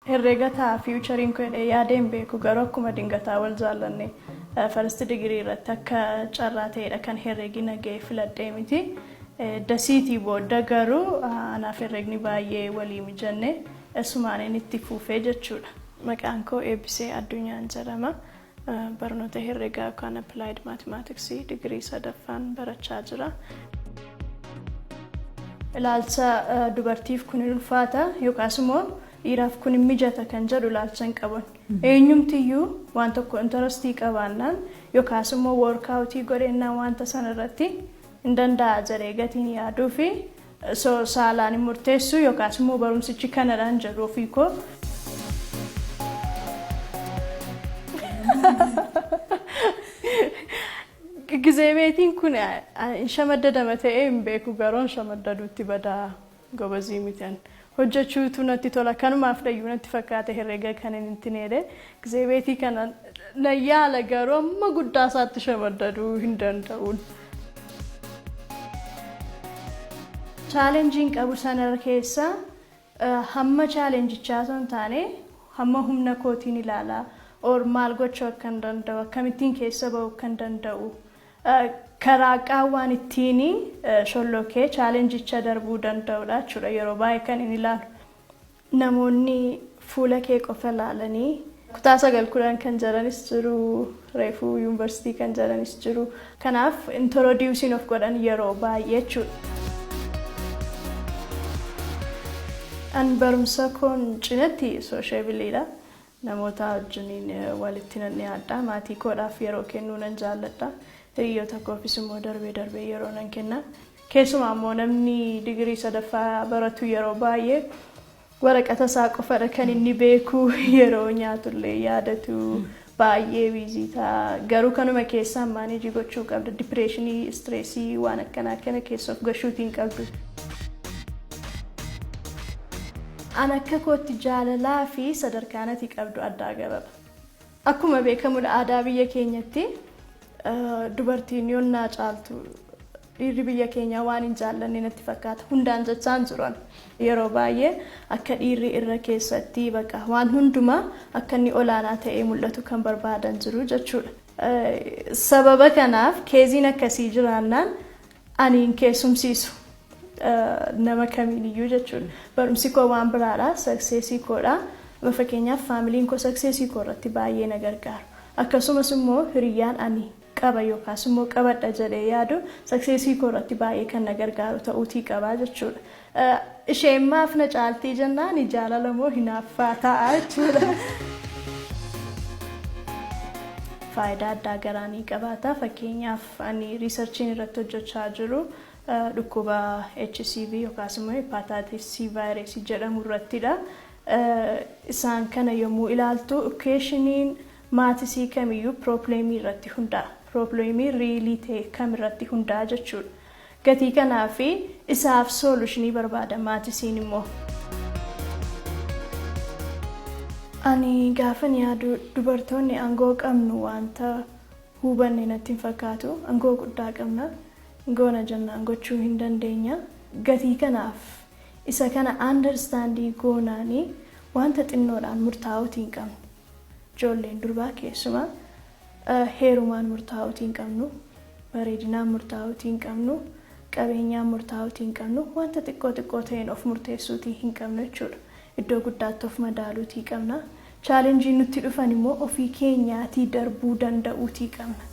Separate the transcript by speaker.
Speaker 1: Herreega ta'a future koo jedhee yaadee hin beeku garuu akkuma dingataa wal jaallanne first degree irratti akka carraa ta'eedha kan herreegi na ga'e filadhee miti dasiitii boodda garuu anaaf herreegni baay'ee walii mijanne asumaaniin itti fuufee jechuudha. Maqaan koo Eebbisee Addunyaan jedhama. Barnoota herregaa yookaan applied mathematics digirii sadaffaan barachaa jira. Ilaalcha dubartiif kun hin ulfaata yookaas immoo dhiiraaf kun hin mijata kan jedhu ilaalcha hin qaban. Eenyumtiyyuu waan tokko intarastii qabaannaan yookaas immoo woorkaawutii godheennaan wanta sana irratti hin danda'a jedhee gatiin yaaduu fi Osoo saalaan hin murteessuu yookaas immoo barumsichi kanadhaan jedhu ofii koo. Gizeebeetiin kun shamaddadama ta'ee hin beeku garuu shamaddaduutti badaa gobazii miti ani. hojjachuutu natti tola kanumaafdhayyu natti fakkaate herrega kanin hin tineele gzebeetii kana nan yaala garuu amma guddaa isaatti shamaddaduu hin danda'uun. chaalenjiin qabu sanar keessa hamma chaalenjichaa osoo hin taane hamma humna kootiin ilaala or maal gochuu akkan danda'u akkamittiin keessa ba'uu akkan danda'u karaa qaawwaan ittiin shollookee chaalenjicha darbuu danda'udha jechuudha. Yeroo baay'ee kan inni ilaalu namoonni fuula kee qofa ilaalanii kutaa sagal kudhan kan jaranis jiru reefuu yuunivarsiitii kan jaranis jiru kanaaf intorodiusiin of godhan yeroo baay'ee jechuudha. An barumsa koon cinatti soosheebiliidha. Namootaa wajjiniin walitti nan dhiyaadha. Maatii koodhaaf yeroo kennuu nan jaalladha. Hiriyyoota koofis immoo darbee darbee yeroo nan kenna. Keessumaa immoo namni digirii sadaffaa baratu yeroo baay'ee waraqata isaa qofadha kan inni beeku yeroo nyaatullee yaadatu baay'ee biizii ta'a. Garuu kanuma keessaan maaneejii gochuu qabda. Dipireeshinii, istireesii waan akkanaa kana keessa of gashuutii hin qabdu. An akka kootti jaalalaa fi sadarkaan ati qabdu addaa gararra. Akkuma beekamu aadaa biyya keenyatti dubartiin yonnaa caaltu dhiirri biyya keenyaa waan hin jaallanne natti fakkaata. Hundaan jechaan jiru an. Yeroo baay'ee akka dhiirri irra keessatti baqa waan hundumaa akka inni olaanaa ta'ee mul'atu kan barbaadan jiru jechuudha. Sababa kanaaf keeziin akkasii jiraannaan Ani hin keessumsiisu nama kamiin iyyuu jechuun barumsi koo waan biraadha sakseesii koodha amma fakkeenyaaf faamiliin koo sakseesii koo irratti baay'ee na gargaaru akkasumas immoo hiriyyaan ani qaba yookaas immoo qabadha jedhee yaadu sakseesii koo irratti baay'ee kan na gargaaru ta'uutii qabaa jechuudha Isheen maaf na caaltii jennaani jaalala moo hinaaffaa ta'a jechuudha. Faayidaa addaa garaa ni qabaata. Fakkeenyaaf ani riisarchiin irratti hojjechaa jiru dhukkuba HCV yookaas immoo hepatitis C virus jedhamu irrattidha. Isaan kana yommuu ilaaltu equation'iin maatisii kamiyyuu piroobleemii irratti hundaa'a. Piroobleemii riilii ta'e kam irratti hundaa'a jechuudha. Gatii kanaa fi isaaf soolushinii barbaada maati siin immoo. Ani gaafan yaadu dubartoonni angoo qabnu waanta huubanne natti hin fakkaatu angoo guddaa qabna goona jennaan gochuu hin dandeenya gatii kanaaf isa kana understand goonaani waanta xinnoodhaan murtaa'uuti hin qabnu ijoolleen durbaa keessumaa Heerumaan murtaa'uutii hin qabnu, bareedinaan murtaa'uutii hin qabnu, qabeenyaan murtaa'uutii hin qabnu, wanta xiqqoo xiqqoo ta'een of murteessuutii hin qabnu jechuudha. Iddoo guddaatti of madaaluutii qabna. Chaalenjiin nutti dhufan immoo ofii keenyaatii darbuu danda'uutii qabna.